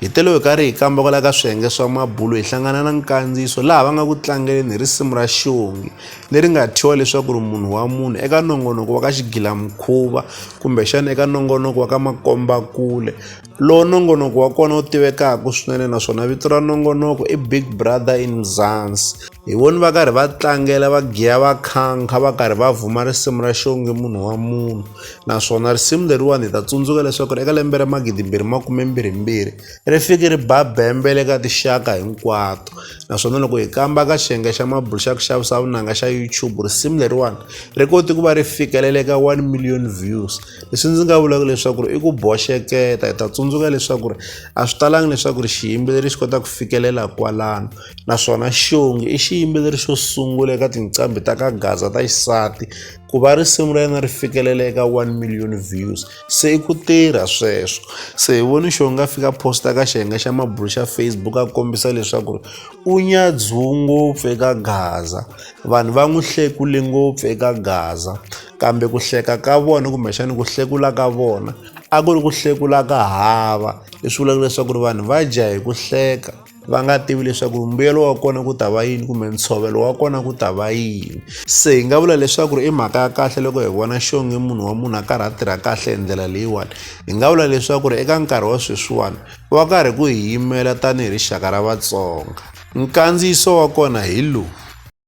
Hi telo hi karhi hi kambakala ka swiyenge swa mabulo hi hlangana na nkandziyiso laha va nga ku tlangeleni hi risimu ra xiongi leri nga thyiwa leswaku ri munhu wa munhu eka nongonoko wa ka xigilamukhuva kumbexana eka nongonoko wa ka makombakule lowu nongonoko wa kona wu tivekaka swinene naswona vito ra nongonoko i big brother in mzansi Hi voni va karhi va tlangela va giya va khankha va karhi va vhuma risimu ra xonge munhu wa munhu naswona risimu leriwani hi ta tsundzuka leswaku ri eka lembe ra magidimbirhi makumembirhimbirhi ri fike ri ba bembe le ka tixaka hinkwato naswona loko hi kamba ka xiyenge xa mabulu xa ku xavisa vunanga xa youtube risimu leriwani ri koti ku va ri fikelele ka one million views leswi ndzi nga vulaka leswaku ri i ku boxeketa hi ta tsundzuka leswaku ri a swi talangi leswaku ri xiyimbeleri xi kota ku fikelela kwalano naswona xongi i xiyimbeleri xo sungula eka tinqambi ta ka gaza ta xisati ku va risimu ra yena ri fikelele eka 1 million views se i ku tirha sweswo se hi voni xongi a fika posta ka xiyenge xa mabulu xa facebook a kombisa leswaku ri u nyadzhiwu ngopfu eka gaza vanhu va n'wi hlekule ngopfu eka gaza kambe ku hleka ka vona kumbexani ku hlekula ka vona a ku ri ku hlekula ka hava leswi vulaka leswaku ri vanhu va dya hi ku hleka va nga tivi leswaku mbuyelo wa kona ku ta va yini kumbe ntshovelo wa kona ku ta va yini se hi nga vula leswaku ri i mhaka ya kahle loko hi vona xonge munhu wa munhu a karhi a tirha kahle hi ndlela leyiwani hi nga vula leswaku ri eka nkarhi wa sweswiwani va karhi ku hi yimela tanihi rixaka ra vatsonga nkandziyiso wa kona hi lowu